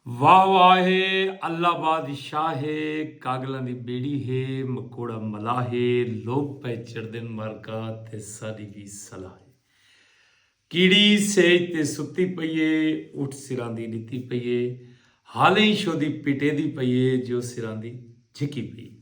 واہ واہ ہے اللہ بادشاہ ہے کاگلاں دی بیڑی ہے مکوڑا ملاح ہے لوک پئے چڑھدن مارکا تے ساڈی وی صلاح ہے کیڑی سیج تے ستی پئی ہے اٹھ سراندی ڈتی پئی ہے حالیں شودی پٹیدی پئی ہے جو سراندی جھکی پئی ہے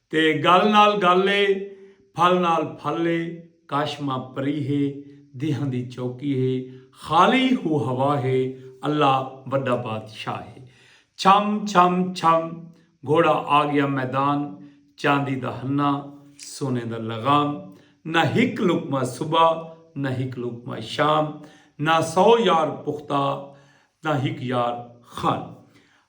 تے گل نال گل اے پھل نال پھل اے کاشماں پری ہے دیہاں دی چوکی ہے خالی ہو ہوا ہے اللہ وڈا بادشاہ ہے چھم چھم چھم گھوڑا آگیا میدان چاندی دا ہنہ سونے دا لغام نہ ہک لقمہ صبح نہ ہک لقمہ شام نہ سو یار پختہ نہ ہک یار خان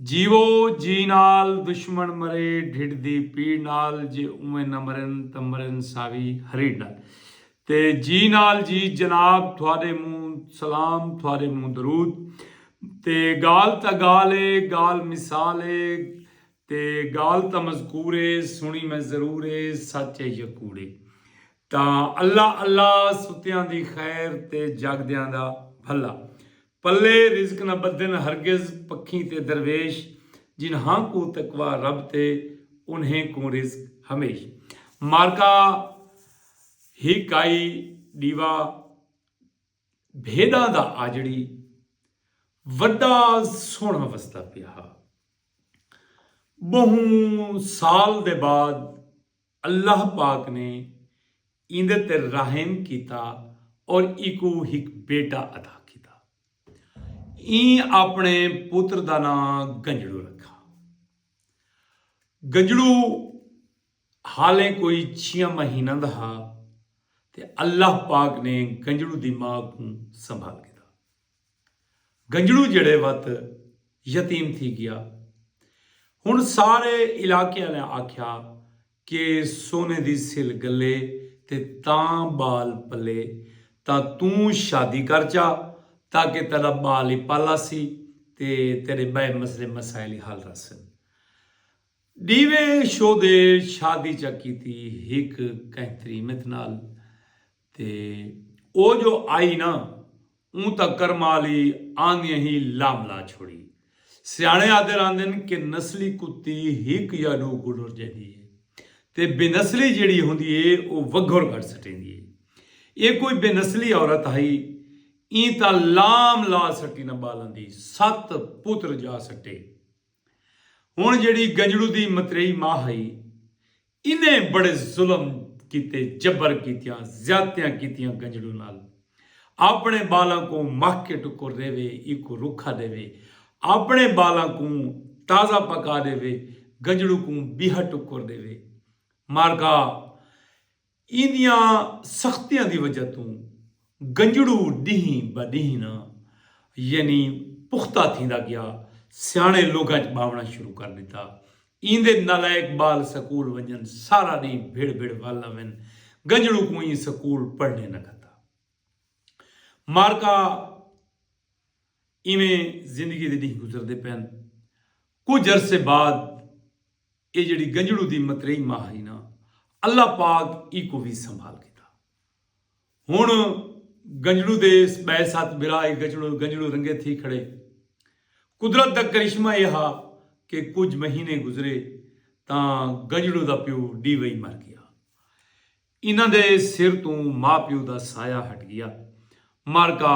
جیوو جی نال دشمن مرے ڈھڈ دی پیڑ نال جے اوویں نہ مرن تاں مرن ساوی ہریڑ نال تے جی نال جی جناب تھوڈے منہ سلام تھوڈے منہ درود تے گال تاں گال اے گال مثال اے تے گال تاں مذکور اے سنڑی میں ضرور اے سچ اے یا کوڑ اے تاں اللہ اللہ ستیاں دی خیر تے جاگدیاں دا بھلا پلے رزق نہ ٻدھن ہرگز پکھیں تے درویش جنہاں کوں تقوی رب تے انہیں کوں رزق ہمیش معرکہ ہی کائی ݙیوا بھیݙاں دا آجڑی وݙا سوہݨا وسدا پیا ہا ٻہوں سال دے بعد اللہ پاک نے ایندے تے رحم کیتا اور ایکوں ہک بیٹا عطا کیتا۔ ایں آپݨے پتر دا ناں گنجڑو رکھا۔ گنجڑو حالیں کوئی چھیاں مہیناں دا ہا تے اللہ پاک نے گنجڑو دی ماء کوں سنبھال گھدا۔ گنجڑو جیڑھے وت یتیم تھی گیا ہن سارے علاقے آلیاں آکھیا کہ سونے دی سل گلے تے تاں بال پلے تاں توں شادی کر چا تاکہ تیڈا بال ای پل آسی تے تیڈے بئے مسلے مسائل ای حل رہسن ڈیوے شودے شادی چا کیتی ہک کہیں تریمت نال۔ تے او جو آئی نا اوں تاں کرمالی آندیاں ہی لام لا چھوڑی۔ سیاݨے آہدے رہندن کہ نسلی کتی ہک یا ݙو کوں ݙر جیندی ہے تے بے نسلی جیڑھی ہوندی ہے او وگھر کڈھ سٹیندی ہے۔ اے کوئی بے نسلی عورت ہئی ایں تاں لام لا سٹی نہ ٻالاں دی ست پتر جا سٹے۔ ہݨ جیڑھی گنجڑو دی متریئی ماء ہئی انہیں بڑے ظلم کیتے جبر کیتیاں زیادتیاں کیتیاں گنجڑوں نال آپنڑے بالاں کوں مہہ کے ٹکر ڈیوے ایکوں رکھا ڈیوے آپنڑے بالاں کوں تازہ پکا ڈیوے گنجڑوں کوں بیہا ٹکر ڈیوے مارکا ایندیاں سختیاں دی وجہ توں گنجڑو ڈینہہ بہ ڈینہہ نہ یعنی پختہ تھیندا گیا۔ سیاݨے لوگاں ءچ ٻاوݨا شروع کر ݙتا۔ ایندے نالائق ٻال سکول ونڄن سارا ݙینہہ بھڑ بھڑ ول آون۔ گنجڑو کوں ایں سکول پڑھݨے نہ گھدا۔ مارکا ایویں زندگی دے ݙینہہ گزردے پئن۔ کجھ عرصے بعد ایہ جیڑھی گنجڑو دی متریئی ماء ہئی نہ اللہ پاک ایکوں وی سنبھال گھدا۔ ہن گنجڑو دے اس بئے ست برا ای گچڑو گنجڑو رنگے تھی کھڑے۔ قدرت دا کرشمہ ایہ ہا کہ کجھ مہینے گزرے تاں گنجڑو دا پیو ڈی وئی مر گیا۔ انہاں دے سر توں ماء پیو دا سایہ ہٹ گیا۔ مر کا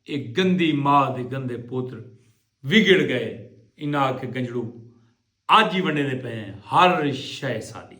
اے گندی ماء دے گندے پوتر وگڑ گئے۔ انہاں آکھے گنجڑو اج ای ونڈیندے پئے ہیں ہر شئے ساڈی۔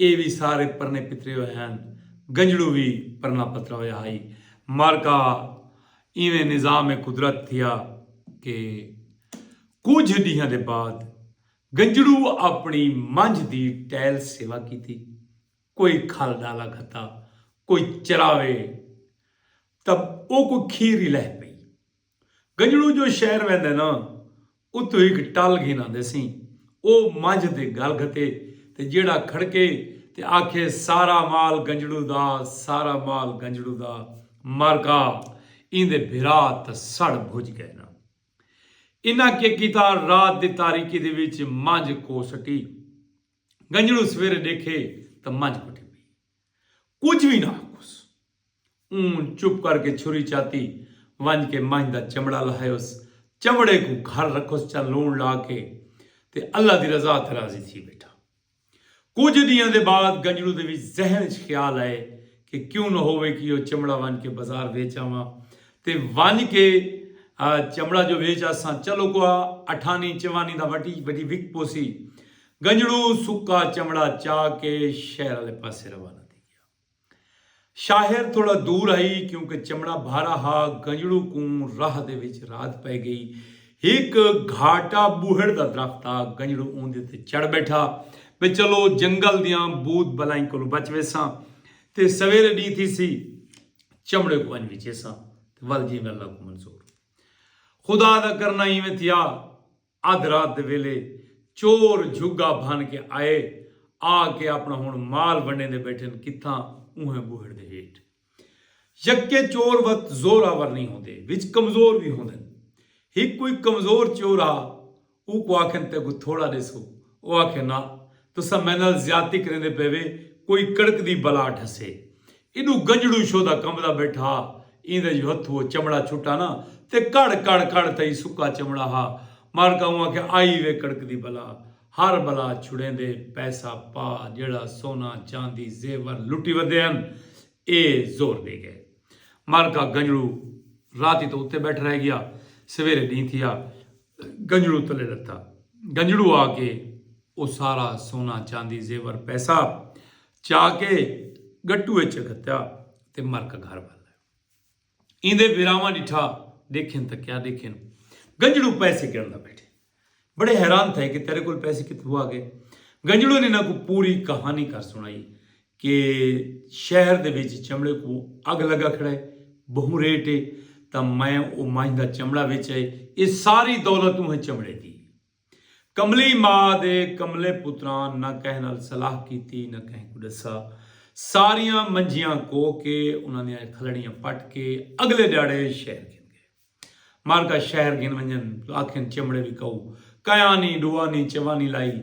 اے وی سارے پرنے پترے ہوئے ہن۔ گنجڑو وی پرنا پترا ہویا ہائی۔ معرکہ ایویں نظام قدرت تھیا کہ کجھ ڈینہاں دے بعد گنجڑو اپنی منجھ دی ٹیل سیوا کیتی۔ کوئی کھل ڈالا گھتا۔ کوئی چراوے تب او کوئی کھیر ہی لہہ پئی۔ گجڑو جو شہر ویندے نا اتھوں ہک ٹل گھن آندے سیں۔ او منجھ تے گل گھتے تے جیڑھا کھڑکے تے آکھے سارا مال گجڑو دا سارا مال گجڑو دا مر گھا ایندے بھرا تاں سڑ بھج گئے نا۔ انہاں کے کیتا رات دی تاریکی دے وچ منجھ کو سٹی۔ گجڑو سویرے ڈیکھے تاں منجھ کٹھی پئی۔ کجھ وی نہ آکھوس۔ اوں چپ کر کے چھری چاتی ونج کے منجھ دا چمڑا لہایوس۔ چمڑے کوں گھر رکھوس چا لوݨ لا کے تے اللہ دی رضا تے راضی تھی بیٹھا۔ کجھ ڈینہاں دے بعد گنجڑو دے وچ ذہن اچ خیال آئے کہ کیوں نہ ہووے کہ او چمڑا ونج کے بازار ویچ آواں تے ونج کے چمڑا جو ویچ آساں چلو کوہا اٹھانی چوانی دا وٹی وٹی وک پوسی۔ گنجڑو سکا چمڑا چا کے شہر آلے پاسے روانہ تھی گیا۔ شاہر تھوڑا دور ہئی کیونکہ چمڑا بھارا ہا گنجڑو کوں راہ دے وچ رات پئے گئی۔ ہک گھاٹا بوہڑ دا درخت ہا گنجڑو اوندے تے چڑھ بیٹھا بھئی چلو جنگل دیاں بھوت بلائیں کولوں بچ ویساں تے سویرے ڈینہہ تھیسی چمڑے کوں ونج وچیساں تے ول جیویں اللہ کوں منظور۔ خدا دا کرنا ایویں تھیا ادھ رات دے ویلے چور جھگا بھن کے آئے آ کے اپنا ہن مال ونڈیندے بیٹھن کتھاں اونہہ بوہڑ دے ہیٹھ۔ یکے چور وت زور آور نئیں ہوندے وچ کمزور وی ہوندن۔ ہک کوئی کمزور چور ہا او کو آکھن تیکوں تھوڑا ڈیسو او آکھے ناں تساں میں نال زیادتی کریندے پے وے کوئی کڑکدی بلا ڈھسے ایڈو گجڑو شو دا کمبدا بیٹھا ہا۔ ایندے جو ہتھو او چمڑا چھٹا نا تے کڑ کڑ کڑ تئیں سکا چمڑا ہا۔ مارکا اوں آکھیا آئی وے کڑکدی بلا۔ ہر بلا چھڑیندے پیسہ پا جیڑھا سونا چاندی زیور لٹی ودے ہن۔ اے زور دے گئے۔ مارکا گنجڑو راتی توں اتے بیٹھ رہ گیا۔ سویرے ڈینہہ تھیا۔ گنجڑو تلے لتا۔ گنجڑو آ کے او سارا سونا چاندی زیور پیسہ چا کے گٹو اچ گھتیا تے مرک گھر ول آئے ایندے وراواں ڈٹھا دیکھن تک کیا دیکھن گنجڑو پیسے گڑنا بیٹھے بڑے حیران تھے کہ تیرے کول پیسے کت ہوا گئے گنجڑو نے انہاں کو پوری کہانی کر سنائی کہ شہر دے وچ چمڑے کو اگ لگا کھڑا ہے بہوں ریٹ ہے تا میں او مائندہ چمڑا وچ ہے اے ساری دولت اوہ چمڑے دی کملی ماء دے کملے پتراں نہ کہیں نال صلاح کیتی نہ کہیں کوں ڈسا ساریاں منجیاں کو کے انہاں دیاں کھلڑیاں پٹ کے اگلے ڈیاڑے شہر گھن گئے مارکا شہر گھن ونجن تو آکھن چمڑے وی کئو کئیا نی ڈوا نی چوا نی لائی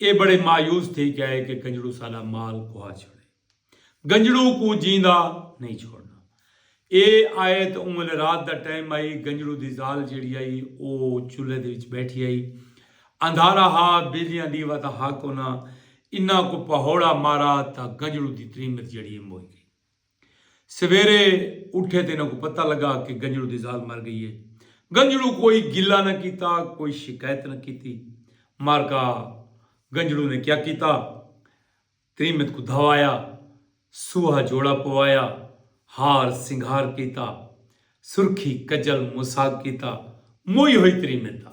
اے بڑے مایوس تھی کئے کے کنجڑو ساڈا مال کھوا چھوڑے۔ گنجڑوں کوں جیندا نئیں چھوڑنا۔ اے آیت اوں ویلے رات دا ٹائم ہئی، گنجڑوں دی ذال جیڑھی ہئی او چولھے دے وچ بیٹھی ہئی۔ اندھارا ہا، بجلیاں ڈیوا تاں ہا کونا۔ انہاں کوں پہوڑا مارا تاں گنجڑوں دی تریمت جیڑھی ہئی موئی گئی۔ سویرے اٹھے تاں انہاں کوں پتہ لگا کہ گنجڑوں دی ذال مر گئی ہے۔ گنجڑوں کوئی گلہ نہ کیتا، کوئی شکایت نہ کیتی۔ مارکا گنجڑوں نے کیا کیتا؟ تریمت کوں دھوایا، سوہا جوڑا پوایا، ہار سنگھار کیتا، سرخی کجل مساگ کیتا، موئی ہوئی تریمت دا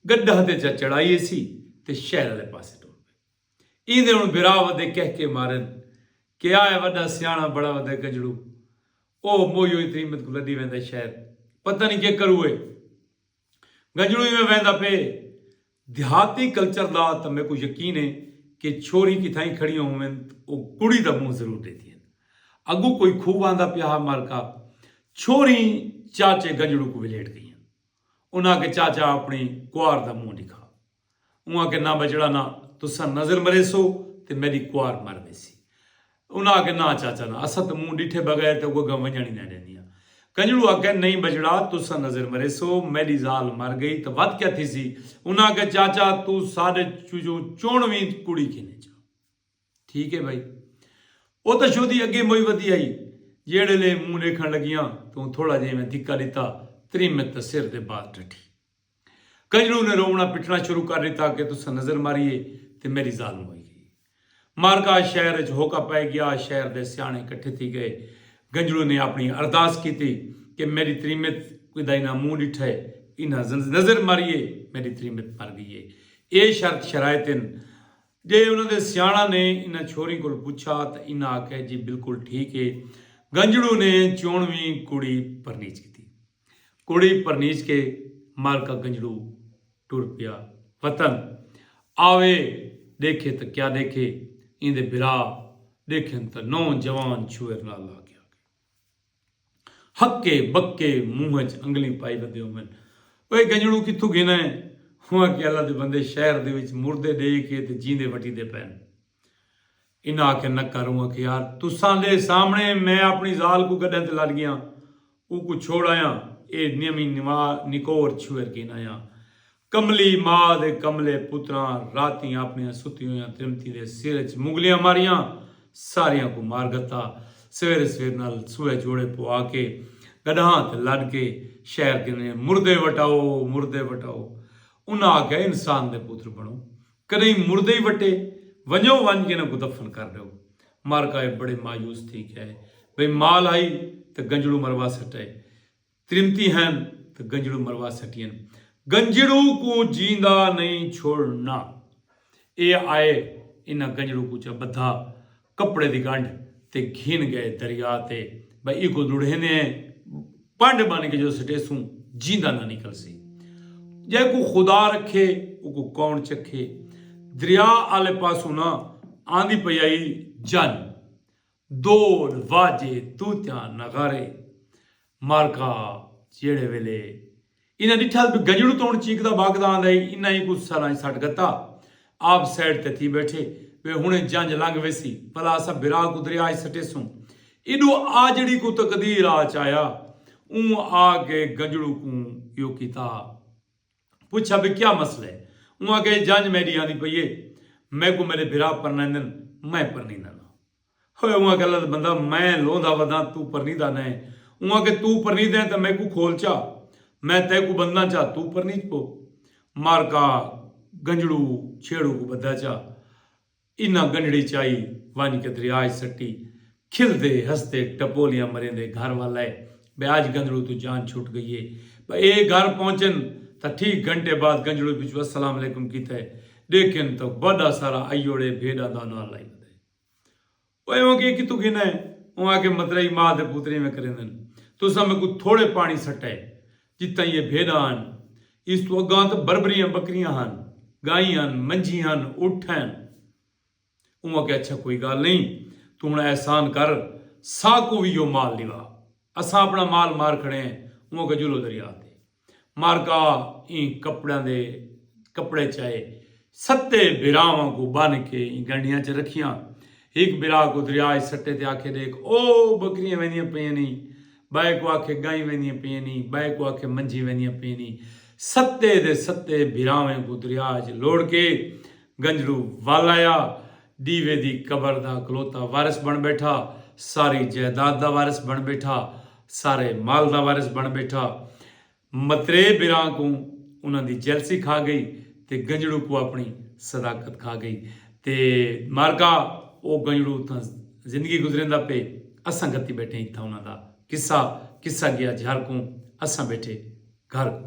گڈھا تے جا چڑھائی ایسی تے شہر آلے پاسے ٹر پئے۔ ایندے ہن بھرا ودے کہکے مارن کہ آئے وڈا سیاݨا بڑا ودے گنجڑو او موئی ہوئی تریمت کوں لڈی ویندا شہر پتہ نی کے کروئے۔ گنجڑوں ایویں ویندا پئے دیہاتی کلچر دا تاں میکوں یقین ہے کہ چھوہری کتھائیں کھڑیاں ہوون تاں او کڑی دا منہ ضرور ڈیندیاں اگوں کوئی خوب آندا پیا ہا مالکا چھوہریں چاچے گنجڑوں کوں ولھیٹ گئیاں انہاں آکھے چاچا اپنڑی کوار دا منہ ڈکھا۔ اوں آکھیا نہ بچڑا نہ تساں نظر مریسو تے میڈی کوار مر ویسی۔ انہاں آکھیا نہ چاچا نہ اساں تاں مونہہ ڈٹھے بغیر تے اگوں اگاں ونجنڑ ہی نہ ڈیندیاں۔ کنجڑو آکھیا نئیں بچڑا تساں نظر مریسو میڈی زال مر گئی تاں ودھ کیا تھیسی۔ انہاں آکھیا چاچا توں ساڈے چوں چنڑ ویں کڑی گھنے چا۔ ٹھیک اے بھائی۔ او تاں شودی اگے موئی ودھی آئی۔ جیڑھے لے مونہہ ڈیکھنڑ لگیاں تاں اوں تھوڑا جیویں دھکا ڈتا تریمت تاں سر دے بال ڈٹھی۔ کجڑو نے روونا پٹنا شروع کر ڈتا کہ تساں نظر ماری اے تے میڈی زال موئی گئی اے۔ مارکا شہر اچ ہوکا پئے گیا۔ شہر دے سیانے کٹھے تھی گئے۔ گنجڑو نے اپنی ارداس کیتی کہ میڈی تریمت کدائی نہ منہ ڈٹھے۔ انہاں نظر ماری اے میڈی تریمت مر گئی اے۔ اے شرط شرائط ہن۔ جئے انہاں دے سیانڑاں نے انہاں چھوریں کول پچھا تاں انہاں آکھیا جی بالکل ٹھیک اے۔ گنجڑو نے چونویں کڑی پرنیج کیتی۔ کڑی پرنیج کے مالکا گنجڑو ٹر پیا وطن آوے ڈیکھے تاں کیا ڈیکھے ایندے بھرا ڈیکھن تاں نو جوان چھوئر نال لا کے آگے ہکے بکے منہ اچ انگلیں پائی ودے ہوون اوئے گنجڑو کتھوں گھناں ہے ہوں آکھیا اللہ دے بندے شہر دے وچ مردے ڈے کے تے جیندے وٹیندے پئن انہاں آکھیا نکا روں آکھے یار تساں دے سامنے میں اپنی ذال کوں گڈھاں تے لڈ گیاں اوکوں چھوڑ آیاں اے نیویں نواں نکور چھوئر گھن آیاں کملی ما دے کملے پتراں راتیں اپنیاں ستیاں ہویاں ترمتیں دے سر اچ مغلیاں ماریاں ساریاں کوں مار گھتا سویرے سویر نال سوئے جوڑے پوا کے گڈھاں تے لڈ کے شہر گھن آیاں مردے وٹاؤ مردے وٹاؤ انہاں آکھیا انسان دے پتر بنو کݙاہیں مردے ای وٹے ونڄو ونڄ کے انہاں کوں دفن کر ݙیو۔ مارکا اے بڑے مایوس تھی کیا اے بھئی مال ہئی تاں گنجڑوں مروا سٹئے۔ تریمتی ہین تاں گنجڑوں مروا سٹین۔ گنجڑوں کوں جیندا نئیں چھوڑ نا۔ اے آئے انہاں گنجڑوں کوں چا ٻدھا۔ کپڑے دی گنڈھ تے گھن گئے دریا تے بھئی ایکوں لڑھیندے ہیں پنڈ بن کے جو سٹیسوں جیندا نہ نکلسی جے کوں خدا رکھے اوکوں کون چکھے دریا آلے پاسوں نہ آندی پئی آئی جن دول واجے طوطیاں نغارے مالکا جیڑھے ویلے انہاں ݙٹھا جو گجڑوں توݨ چیکدا ٻھاکدا آندا ہئی انہاں ای کوں سراں اچ سٹ گھتا۔ آپ سائیڈ تے تھی ٻیٹھے وے ہݨے جنج لنگھ ویسی بھلا اساں بھرا کوں دریا اچ سٹیسوں۔ ایݙو آجڑی کوں تقدیر آ چایا اوں آ کے گجڑوں کوں ایہو کیتا۔ پچھا بھئی کیا مسئلہ ہے؟ اوں آکھیا جی جنج میݙی آندی پئی ہے میکوں میݙے بھرا پرنیندن میں پرنیندن آں۔ ہوئے اوں آکھیا لت بندہ میں لوندھا وداں توں پرنیدہ نئیں اوں آکھے توں پرنیدہ ہیں تاں میکوں کھول چا میں تیکوں بنداں چا توں پرنیج پو مارکا گنجڑو چھیڑو کوں بدھا چا انہاں گنجڑی چائی ونج کے دریا اچ سٹی کھلدے ہسدے ٹپولیاں مریندے گھر ول ائے بئے اج گنجڑو توں جان چھٹ گئی اے بئے اے گھر پہنچن تاں ٹھیک گھنٹے بعد گنجڑو پچھوں السلام علیکم کیتے ڈیکھن تاں وڈا سارا ایوڑے بھیڈاں دا انوال لائی ودے۔ او ایویں کیئے کتھوں گھننا ہے؟ اوں آکھیا مترائی ماہ دے پوتر ایویں کریندن۔ تساں میکوں تھوڑے پاݨی سٹئے جتھاں ایہ بھیݙاں ہن۔ ایس توں اڳاں تاں بربریاں ٻکریاں ہن، ڳائیں ہن، منجھی ہن، اٹھ ہن۔ اوں آکھیا اچھا کوئی ڳالھ نئیں توں ہݨ احسان کر ساکوں وی ایہو مال ݙیوا۔ اساں اپݨا مال مار کھڑے ہیں۔ اوں آکھیا جلو دریا تے۔ مارکا ایں کپڑیاں دے کپڑے چائے ستے بھراواں کوں بن کے ایں گنڈیاں چ رکھیاں۔ ہک بھرا کوں دریا اچ سٹے تے آکھے ڈیکھ او بکریاں ویندیاں پیئن نی، بئے کوں آکھے گائیں ویندیاں پیئن نی، بئے کوں آکھے منجھیں ویندیاں پیئن نی۔ ستے دے ستے بھراویں کوں دریا اچ لوڑ کے گنجڑو ول آیا۔ ڈیوے دی قبر دا کلوتا وارث بن بیٹھا، ساری جائیداد دا وارث بن بیٹھا۔ سارے مال دا وارث بݨ ٻیٹھا۔ مترے بھراں کوں انہاں دی جیلسی کھا ڳئی تے گنجڑو کوں اپݨی صداقت کھا ڳئی تے معرکہ او گنجڑو اتھاں زندگی گزریندا پئے اساں گھتی ٻیٹھے اتھاں انہاں دا قصہ قصہ ڳیا جھر کوں اساں ٻیٹھے گھر کوں۔